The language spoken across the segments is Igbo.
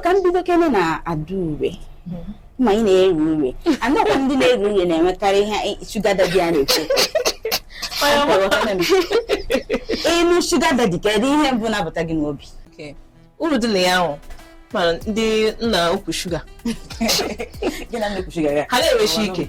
ka m bido kene na adaure ma ị na-eri ure anakwa ndị na-eri ure na-enwekarị ihe sugar daddy a na-ekwu ị nụ sugar daddy kedu ihe mbụ na-abata gị n'obi Okay. uru dị na ya ahụ mana ndị nna ukwu sugar gị na nne ukwu sugar ya ha na-enwechi ike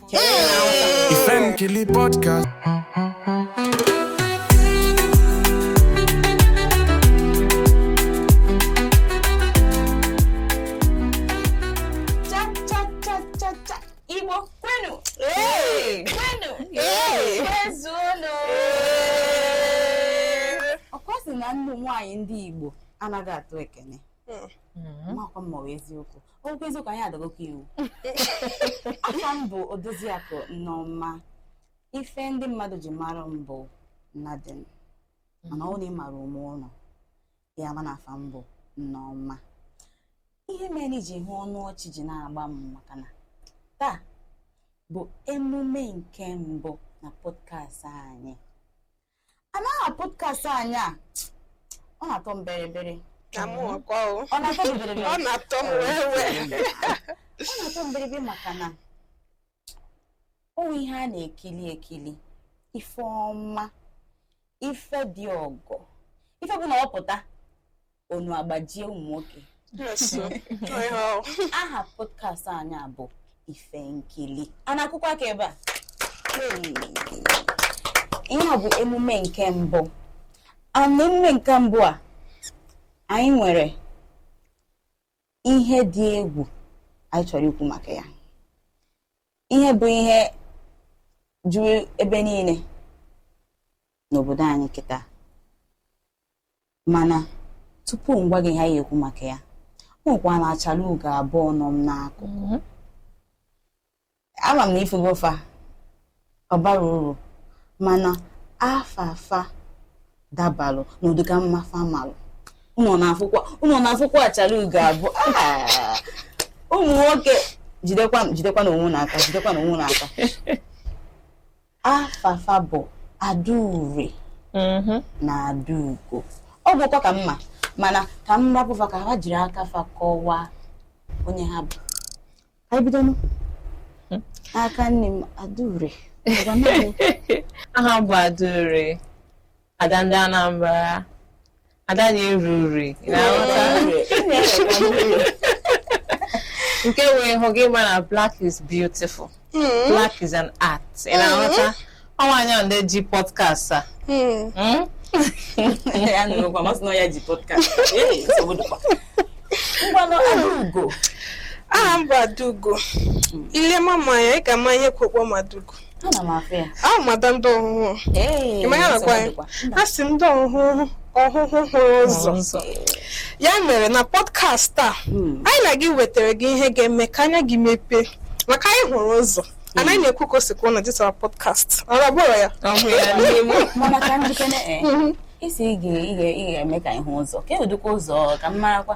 Ife Nkili Podcast. cha Igbo kwenu ọkwa a sị na ụmụ nwaanyị ndị Igbo anaghị atụ ekene makwa mma wee eziokwu okwu eziokwu anyị adagokwa iwu afa m bụ odoziakụ nneọma ife ndị mmadụ ji mara m bụ Nadine mana ọ na ị mara m n'ime ụlọ ị ya-ama na afa m bụ nneọma ihe mere i ji hụ ọnụ ọchị ji na-agba m maka na taa bụ emume nke mbụ na podcast anyị and aha podcast anyị a ọ na-atọ m berebere na mụ ọkwa o ọ na-atọ m berebere ọ na-atọ m wee wee ọ na-atọ m berebere maka na ọ bụ ihe a na-ekili ekili ife ọma ife dị ọgọ ife bụ na ọ pụta onu agbajie ụmụ nwoke aha podcast anyị a bụ ife nkili a na-akụkwa aka ebe a ihe a bụ emume nke mbụ and emume nke mbụ a anyị nwere ihe dị egwu anyị chọrọ ikwu maka ya ihe bụ ihe juru ebe niile n'obodo anyị kịta mana tupu m gwa gị ihe a ya-ekwu maka ya o nwekwara na achara ugo abụọ nọ m n'akụkụ ama m na ị fụgo fa ọ bara uru mana afa fa dabalụ n'ụdịka mma fa malụ unu na-afụkwa unu na-afụkwa achara ugo abụọ Ah! ụmụ nwoke jidekwa jidekwanụ onwe unu aka jidekwanụ onwe unu aka afa fa bụ adaure mhm. na adaugo ọ bụkwa ka mma mana ka m rapụ fa ka ha jiri aka fa kọwaa onye ha bụ ka anyị bidonụ hmm. aka nni m adaure aha m bụ adaure ada ndị Anambra ada na-eru ure na-aghọta nke wee hụ gị ma na black is beautiful black is an art ị na-aghọta ọnwanyị a ndị ji podcast a Mm. Mm? ya nụrụkwa masị na ya ji podcast Ee, nsogbu dịkwa. ngwanụ Adaugo aha m bụ Adaugo i lema m anya ị ga-ama ihe kwekwa m Adaugo ana m afụ ya awụ m ada ndị Ọhụhụ ee Ụmụahịa nakwa ya a sị ndị Ọhụhụ Ọhụhụ hụrụ ụzọ ụzọ ya mere na pọdkast a Hmm. anyị na gị wetara gị ihe ga-eme ka anya gị mepee maka anyị hụrụ ụzọ anaghị na-ekwu ka o si kwuo na dịtara pọdkast ọrụ ọ bụrụ ya ọhụ ya n'ime mana ka njikere ee isi ị ga- ị ga- ị ga-eme ka anyị hụ ụzọ ka ụdịkwa ụzọ ka m marakwa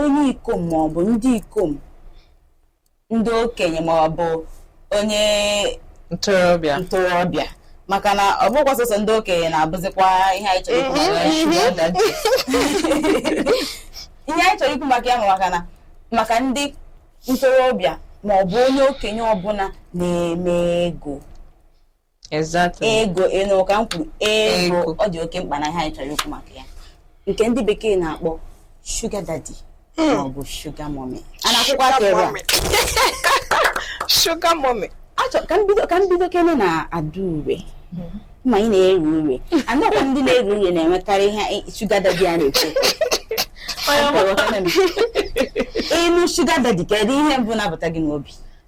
onye ikom ma ọ bụ ndị ikom ndị okenye ma ọ bụ onye ntorobịa ntorobịa maka na ọ bụkwa sọsọ ndị okenye na-abụzikwa ihe anyị chọrọ ikwu maka ya mhm. sugar daddy. ihe anyị chọrọ ikwu maka ya bụ maka na maka ndị ntorobịa ma ọ bụ onye okenye ọbụla na-eme ego Exactly. ego ị nụ ka m kwuru ego Ego. ọ dị oke mkpa na ihe anyị chọrọ ikwu maka ya nke ndị bekee na-akpọ shuga dadi ma ọ bụ shuga mọmi a na-akụkwa aka ebe a Sugar mommy. achọ ka m bido ka m bido kene na Adaure ma ị na-eru ure anọkwa ndị na-eru ure na-enwekarị ihe shuga dadi a na-ekwu ị nụ shuga dadi kedu ihe mbụ na-abata gị n'obi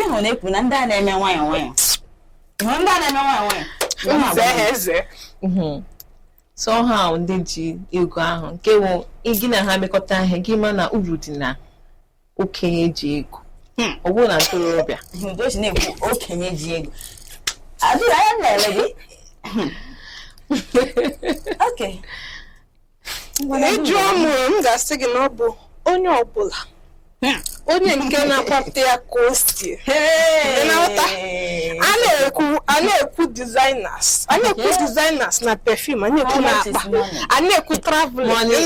ịhụ na-ekwu na ndị a na-eme nwayọ nwayọ ndị a na-eme nwayọ nwayọ mhm. somehow ndị ji ego ahụ nke wụ gị na ha mekọta ihe gị ma na uru dị na okenye ji ego hmm. ọ bụrụ na ntorobịa na-ekwu okenye ji ego adịghị anya na-ele gị hmm. okay ị jụọ m m ga-asị gị na ọ bụ onye ọbụla hmm. onye nke na-akwapụta ya ka o si a na-ekwu a na-ekwu designers a na-ekwu designers na perfume a na-ekwu na akpa a na-ekwu travel money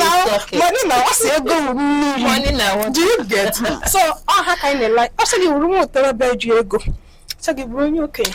na-awụsị ego mmiri do you get so ọ ha ka anyị na-ele ọ sị gị wụrụ nwa ntorobịa ji ego ọ sị gị bụrụ onye okenye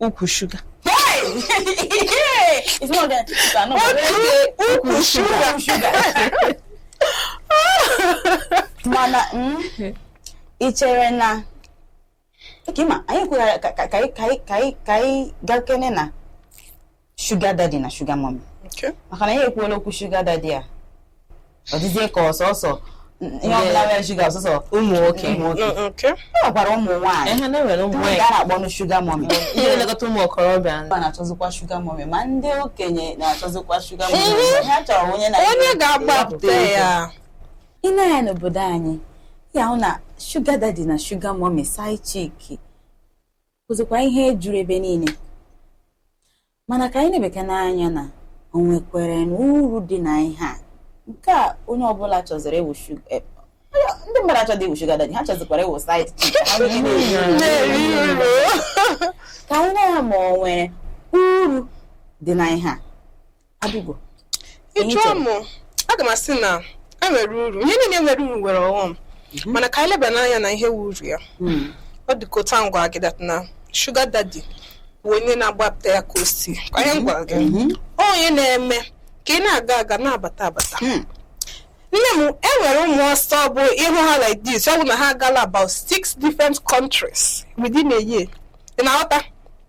ukwu shuga ukwu shuga mana mm, ị chere na anyị kwughara ka anyị gakene na sugar daddy na sugar mommy maka na ya ekwuola okwu sugar daddy a ọ dịzie ka ọ sọsọ ihe ọbụla nwere sugar ọ sọsọ ụmụ nwoke e nwekwara ụmụ nwaanyị a na-akpọnụ sugar mommy ndị na-elekọta ụmụ okorobịa na-achọzikwa sugar mommy ma ndị okenye na-achọzikwa sugar mommy ha chọrọ onye na-agbapụta ya ị na-anya n'obodo anyị ya wụ na sugar daddy na sugar mommy side chick wụzikwa ihe juru ebe niile mana ka anyị lebekwanụ anya na o nwekwerenụ uru dị na ihe a nke a onye ọbụla chọziri ịwụ sugar eh, ndị mmadụ chọzi ịwụ sugar daddy ha chọzikwara ịwụ side chick ha wee na-eri uru. na-eri uru ka anyị nụ ma o nwere uru dị na ihe a Adaugo. Ị jụọ m, aga m asị na e nwere uru. Ihe niile nwere uru nwere ọghọm. Mhm. Mana ka anyị lebanụ anya na ihe wụ uru ya. Hmm. Ọ dị ka otu a m gwara gị that na sugar daddy bụ onye na-agbapụta ya ka o si. Ka ihe m gwara gị. Mhm. Onye na-eme ka ị na-aga aga na-abata abata. Hmm. nne m e nwere ụmụ ọsọ bụ ị hụ ha like this ọ bụ na ha agaala about six different countries within a year ị na-aghọta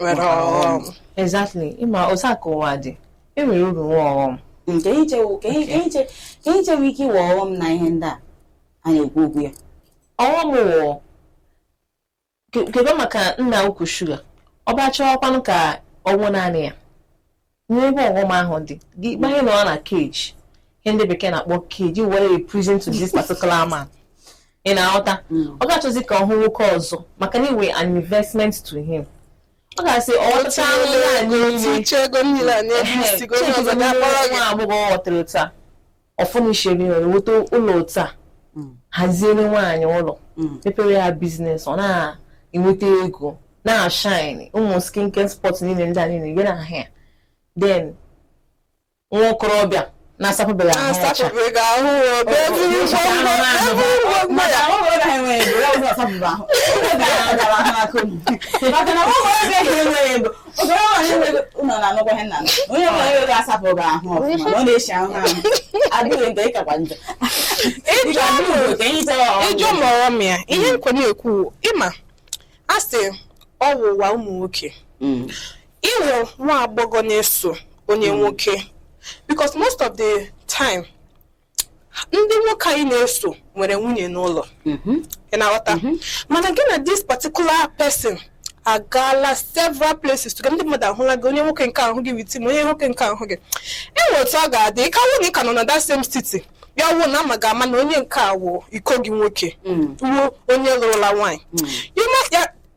nwere ọghọm exactly ị ma otu a ka ụwa dị e nwere uru nwe ọghọm Mm, ka anyị chewu ka anyị- ka anyị che- ka anyị chewu ihe wụ ọghọm na ihe ndị a a na-ekwu okwu ya ọghọm wụ kebe maka nna ukwu sugar ọ bịa chọwakwanụ ka ọ wụ naanị ya nwere ebe ọghọm ahụ dị gị gbanye nọ na cage ihe ndị bekee na-akpọ cage ị wụ a prison to this particular man ị na-aghọta mm. ọ ga-achọzi ka ọ hụ nwoke ọzọ maka na ị wụ an investment to him ọ ga-asị ọcha nwa agbọghọ ghọtara taa ọ furnishiri nweta ụlọ otu a mm. haziere nwaanyị ụlọ mm. mepere ya business ọ na-enweta ego na-ashine ụmụ skincare spot niile ndị a niile dị na ahụ ya then nwa okorobịa na-asapebeghị ahụ ọcha ị jụọ m ọghọm ya ihe nkwe na-ekwu ị ma a sị ọ wụ ụwa ụmụ nwoke mm. ị wụ nwa agbọghọ na-eso onye mm. nwoke because most of the time ndị nwoke anyị na-eso nwere nwunye n'ụlọ mhm. ị na-aghọta mhm. mana gị na this particular person agaala several places too ndị mmadụ ahụla gị onye nwoke nke ahụ gị with ma onye nwoke nke ahụ gị e nwe otu ọ ga-adị ka wụ na ị ka nọ na that same city ya wụọ na a ma ga-ama na onye nke a wụ iko gị nwoke mm. wụ onye lụrụla nwaanyị mm.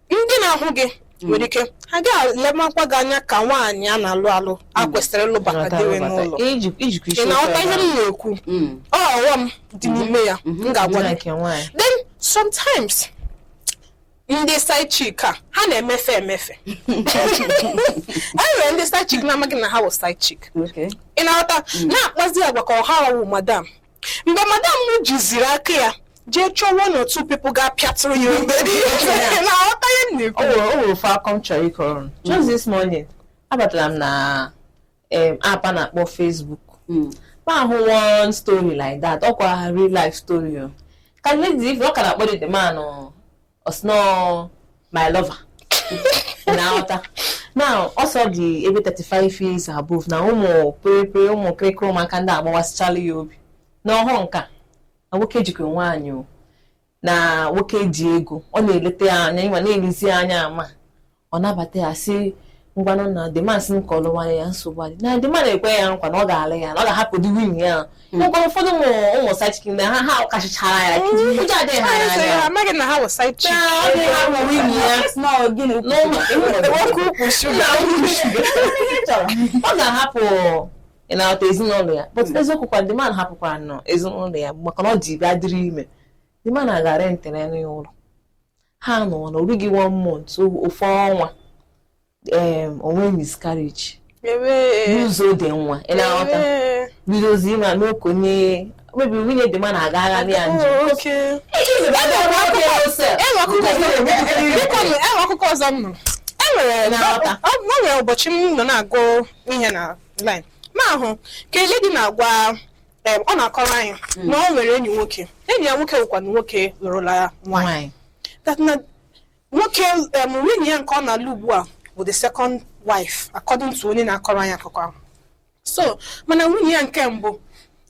ndị na-ahụ gị nwere ike ha ga-elemakwa gị anya ka nwaanyị a na-alụ alụ e kwesịrị ịlụbata dewe n'ụlọ Iji- ijikwa ị isi na-aghọta ihe m na-ekwu Mm. ọ ọghọm dị n'ime ya m ga-agwa gị nke nwaanyị then sometimes ndị side chick a ha na-emefe emefe e nwere ndị side chick na-amaghị na ha wụ side chick Okay. ị na-aghọta na-akpazi agwa ka ọ ha wụ madam mgbe madam jiziri aka ya jee chọọ one or two people ga-apịatụrụ ya obere ihe na-aghọta ihe m na-ekwu o nwere o nwere ofu akụkọ m chọrọ ịkọrọ just this morning abatara m na em, app a na-akpọ Facebook m ahụ one story like that ọkwa real life story o. ka lady ife ọ ka na-akpọ the man o. ọ sị na ọ my lover na-aghọta now ọ sị ọ dị ebe 35 years above na ụmụ pịrịpịrị ụmụ kịrịkịrị ụmụaka ndị a agbawasịchala ya obi na ọ hụ nke a na nwoke jikwa nwaanyị o na nwoke ji ego ọ na-eleta ya anya ị ma na-elezi ya anya ama ọ nabata ya sị ngwanụ na the man sị ka ọ lụwara ya nsogbu adịghị na the man na-ekwe ya nkwa na ọ ga-alụ ya na ọ ga-ahapụdị nwunye ya ngwa ụfọdụ ụmụ ụmụ side chick na ha ha kachichara ya ụjọ adịghị ha Anyị sị n'anya ha amaghị na ha wụ side chick. Ee, ọ dịghị ahụ nwunye ya Small gịnị ukwu? n'ụmụ Nwoke ukwu shuga. ọ ga-ahapụ ị na-aghọta ezinụlọ ya but eziokwu kwa the man hapụkwara nọ ezinụlọ ya maka na ọ ji bịa dịrị ime the man agaa rentere ya ụlọ ha nọ na o rughị one month ofu ọnwa o nwee miscarriage lose-o the nwa ị na-aghọta bidozi ịma n'okonye maybe nwunye the man agagara ya njem e nwere akụkọ ọzọ m nụrụ e nwere ụbọchị m nọ na-agụ ihe online m ahụ ka a lady na-agwa Em, ọ na-akọrọ anyị na o nwere enyi nwoke enyi ya nwoke wụkwanụ nwoke lụrụla ya nwaanyị Nwanyị. that na nwoke em, nwunye ya nke ọ na-alụ ugbu a bụ the second wife according to onye na-akọrọ anyị akụkọ ahụ so mana nwunye ya nke mbụ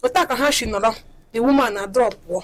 otu a ka ha si nọrọ the woman adropụọ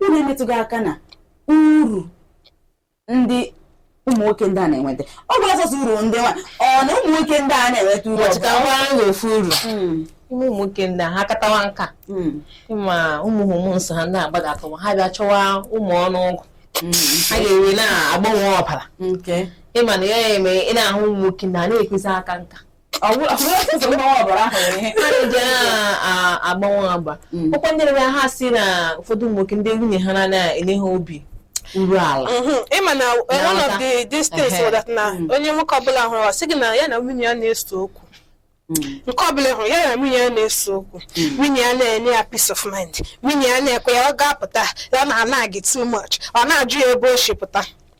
unu emetụghị aka na uru ndị ụmụ nwoke ndị a na-enweta ọ bụ sọsọ uru ndị nwa ọ na ụmụ nwoke ndị a na-enweta uru ọbụla? ọchịkawara ha ofu uru Mm, ụmụ nwoke ndị a ha katawa nka mm, ma ụmụ hormones ha ndị a gbadatawa ha bịa chọwa ụmụ ọnụ ụgụ mm, ha ga-ewe na-agbanwe ọbara nke ị ma na ya eme ị na-ahụ ụmụ nwoke ndị anaghị ekwezi aka nka agbanwe agba ọkwa ndị na ha sị na ụfọdụ ụmụ nwoke ndị nwunye ha anaghị enye ha obi iru ala ị ma na one of the these things was that na onye nwoke ọbụla ị hụrụ ọ sị gị na ya na nwunye ya na-ese okwu nke ọbụla ị hụrụ ya na nwunye ya na-ese okwu nwunye ya anaghị enye ya peace of mind nwunye ya anaghị ekwe ya ọ ga-apụta ya na-anag too much ọ na-ajụ ya ebe o si pụta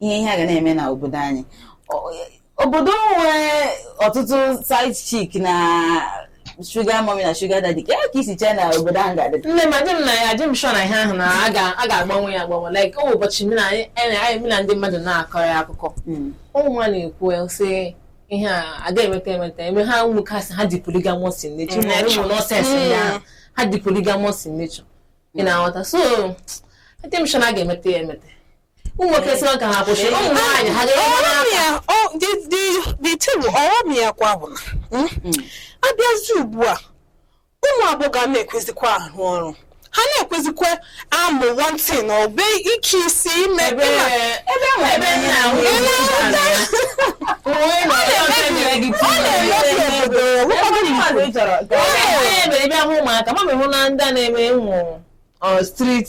ihe ihe a ga na-eme na obodo anyị obodo nwere ọtụtụ side chick na sugar mummy na sugar daddy ka ka i si chee na obodo ahụ ga-adị nne m adị m na ya adị m sure na ihe ahụ na a ga-agbanwe ya agbanwe like o ụbọchị m na anyị m na ndị mmadụ na-akọ ya akụkọ hmm. ụmụ nwa na-ekwu sị ihe a a ga-emeta emeta eme ha ụmụ nwoke sị ha dị polygamous in nature ma ụmụ nonsense ya hmm. ha dị polygamous in nature ị na-aghọta so adị m sure na a ga-emeta ya emeta ụmụ nwoke sị ka ha kwụsị ụmụ nwaanyị ha dịtebụ ọghọm ya kwa bụ na a bịazi ugbu a ụmụ agbọghọ na-ekwezikwa arụ ọrụ ha na-ekwezikwa amụ one thing ọ bụ ike isi ime ebe ụmụaka ma mehụ na ndị a na-eme ụmụ street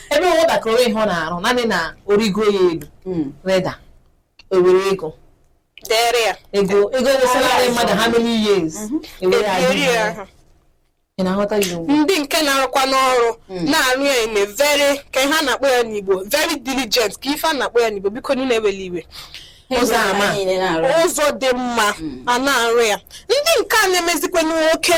ebe nwatakịrị ihe ọ na-arụ naanị na o rigo ya elu Mm. rida e were ego dere ya ego ego wụ salary mmadụ how many years e were ya ebiri ya ahụ. ị na-aghọta ya ugbu a ndị nke na-arụkwa n'ọrụ na-arụ ya in a very kee ihe a na-akpọ ya n'igbo very diligent kee ife a na-akpọ ya n'igbo biko unu ewela iwe ụzọ ọma Anyị niile na-arụ. ụzọ dị mma a na-arụ ya ndị nke a na-emezikwa nwoke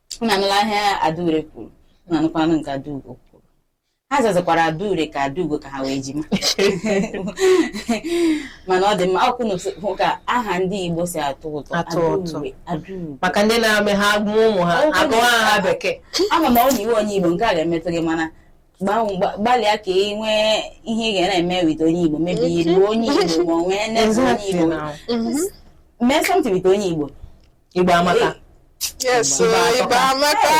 unu anụla ihe Adaure kwuru unu anụkwanụ nke Adaugo kwuru ha zazakwara Adaure ka Adaugo ka ha wụ ejima mana ọ dị mma ọ kwa ị na-ahụ ka aha ndị igbo si atọ ụtọ Atọ ụtọ. Adaure, Adaugo maka ndị na-eme ha mụọ ụmụ ha agụwa ha bekee ama m ọ na ị wụ onye igbo nke a ga-emetụ gị mana gbanwe- gba- gbalịa ka ị nwee ihe ị ga na-eme with onye igbo maybe ịlụ onye igbo ma ọ nwee enyi onye Exactly igbo now. mee something with onye igbo Igbo amaka. Yes, so Igbo amaka.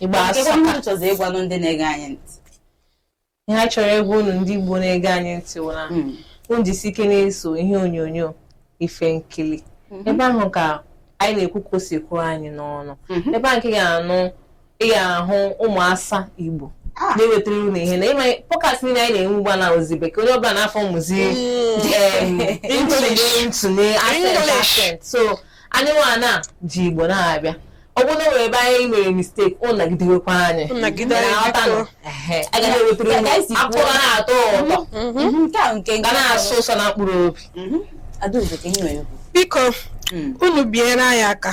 Igbo asọka. Ndị chọzi ịgwanụ ndị na-ege anyị ntị. Ihe a chọrọ ịgwa unu ndị Igbo na-ege anyị ntị wụ na hmm. unu jisi ike na-eso ihe onyonyo ife nkili. Hmm. Ebe ahụ ka anyị na-ekwu ka o si kwuo anyị n'ọnụ. Hmm. Ebe ahụ ka ị ga-anụ ị ga-ahụ ụmụ asa Igbo ah. na-ewetara unu ihe na ị ma podcast niile anyị na-enwe ugbu a na ọ wụzi bekee onye ọbụla na-aformụzi ntinye accent so anyị nwana ji Igbo na-abịa ọ bụrụ na o nwere ebe anyị nwere mistake unu nagidewekwa anyị ga na-ewetara unu akụkọ na-atọ ụtọ mhm. mhm. ga na-asọ ụsọ na mkpụrụ obi mhm. biko hmm. unu biere anyị aka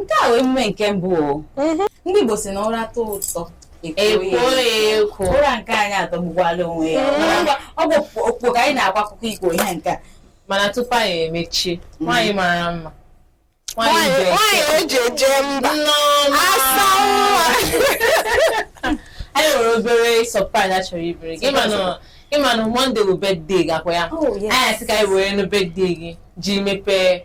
nke a wee emume nke mbụ o mhm. ndị Igbo si na ụra tọọ ụtọ e kwoo ụra nke anyị atọgbukwala onwe ya mhm. ọ bụ okpo ka anyị na-akwa akụkọ ikpo ihe nke a mana tupu anyị emechie mhm. nwaanyị mara mma nwaanyị e ji eje mba asa nwa anyị nwere obere surprise anyị chọrọ imere gị ị ma na Monday bụ birthday gị kwa ya oh, anyị asị ka anyị werenụ birthday gị ji mepee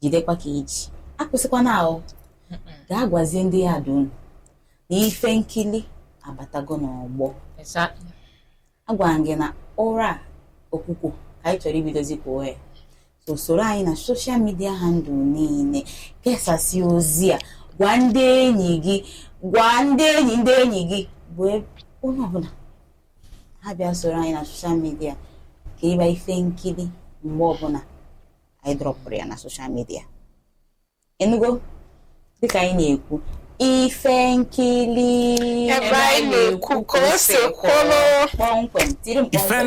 jidekwa ka i ji akwụsịkwana ahụ gaa gwazie ndị yard unu na ife nkili abatago n'ọgbọ Exactly. agwara m gị na ụra a okwukwo ka anyị chọrọ ibidozi kwo ehe so soro anyị na soshal midia handụl niile kesasị ozi a gwa ndị enyi gị gwa ndị enyi ndị enyi gị bụ e- onye ọbụla ha bịa soro anyị na soshal midia ka ịba ife nkili mgbe ọbụla anyị drọpụrụ ya na soshal midia ị nụgo dịka anyị na-ekwu ife nkili ebe anyị na-ekwu ka o si kwụrụ kpọmkwem tirim kpọmkwem